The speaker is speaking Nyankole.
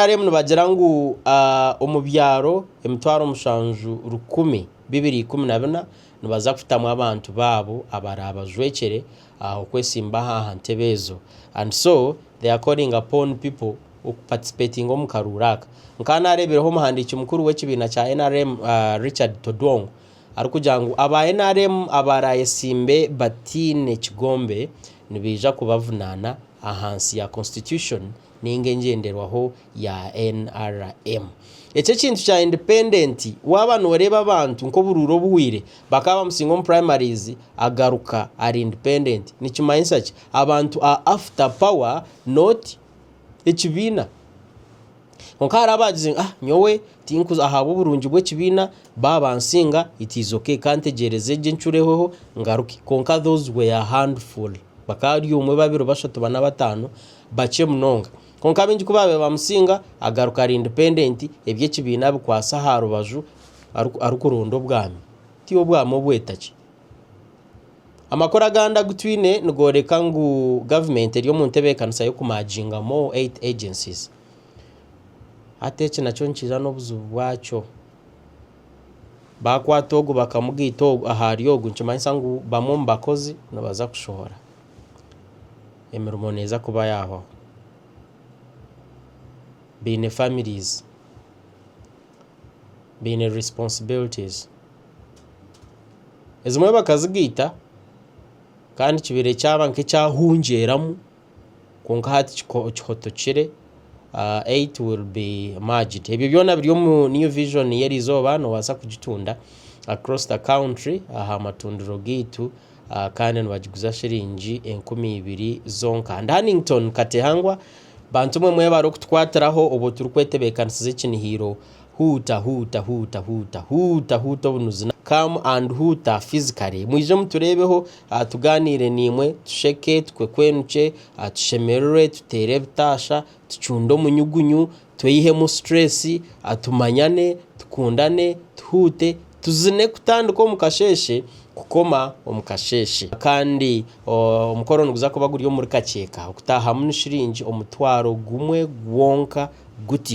NRM nibagira ngu omu byaro emitwaro mushanju rukumi bibiri ikumi na bina nibaza kutamu abantu baabo abaraabajwekyere okwetsimba aha ntebe ezo and so they are calling upon pipo okuparticipatinga omu karuuru aka. Nkaba naareebireho omuhandiiki mukuru w'ekibiina kya NRM Richard Todwong arikugira ngu aba NRM abaraayetsimbe bataine kigombe nibaija kubavunaana ahansi ya Constitution. ninga engyenderwaho ya NRM. Eki ekintu kya independent waaba noreeba abantu nk'oburuuru obuhweire bakaba bamusinga omu primaries agaruka ari independent nikimanyisa ki? Abantu are after power not ekibiina. Kwonka hariho abagize ngu ah nyowe tinkuza ahabw'oburungi bw'ekibiina baaba bansinga it is ok kantegyereze gye ncureho ngaruke. Kwonka those were handful bakaba bari omwe, babiri, bashatu, bana, bataano. Bakye munonga. Kwonka baingi ku baabaire bamusinga, agaruka ari indipendenti, eby'ekibiina abikwatsa aha rubaju arikuronda obwami. Ti obwami obw'eitagi. Amakuru agandi agu twine nigooreka ngu gavumenti eri omu ntebeekanisa y'okumaaginga more aid agencies. Hati eki nakyo nikiija n'obuzibu bwakyo. Baakwata ogu bakamugaita ogu ahari ogu nikimanyisa ngu bamwe omu bakozi nibaza kushohora. emirimo neeza kuba yaahwaho. Baine baana, baine enyekwatsirwa. Ezimwe bakazigaita kandi kibaire kyaba nk'ekyahungyeramu kwonka hati kihotokire. Ebyo byona biri omu New Vision y'erizooba, noobaasa kugitunda aha matundiro gaitu. kandi nibagiguza shiringi enkumi ibiri zonka and Hannington Katehangwa bantu mwe mwebare okutukwatiraho obwo turi kwetebekanisiza ekinihiiro huuta huuta huuta huuta huuta huuta obunuzi come and huuta physically mwije muturebeho tuganire nimwe tusheke tukwekwenukye tushemererwe tutere ebitaasha. tucunde omunyugunyu, tweyihemu situreesi, tumanyane, tukundane, tuhuute, tuzine kutandika omu kasheeshe kukoma omu kasheeshe. Kandi omukoro niguza kuba guri omuri Kakyeka, okutaahamu ni shiringi omutwaro gumwe gwonka guti.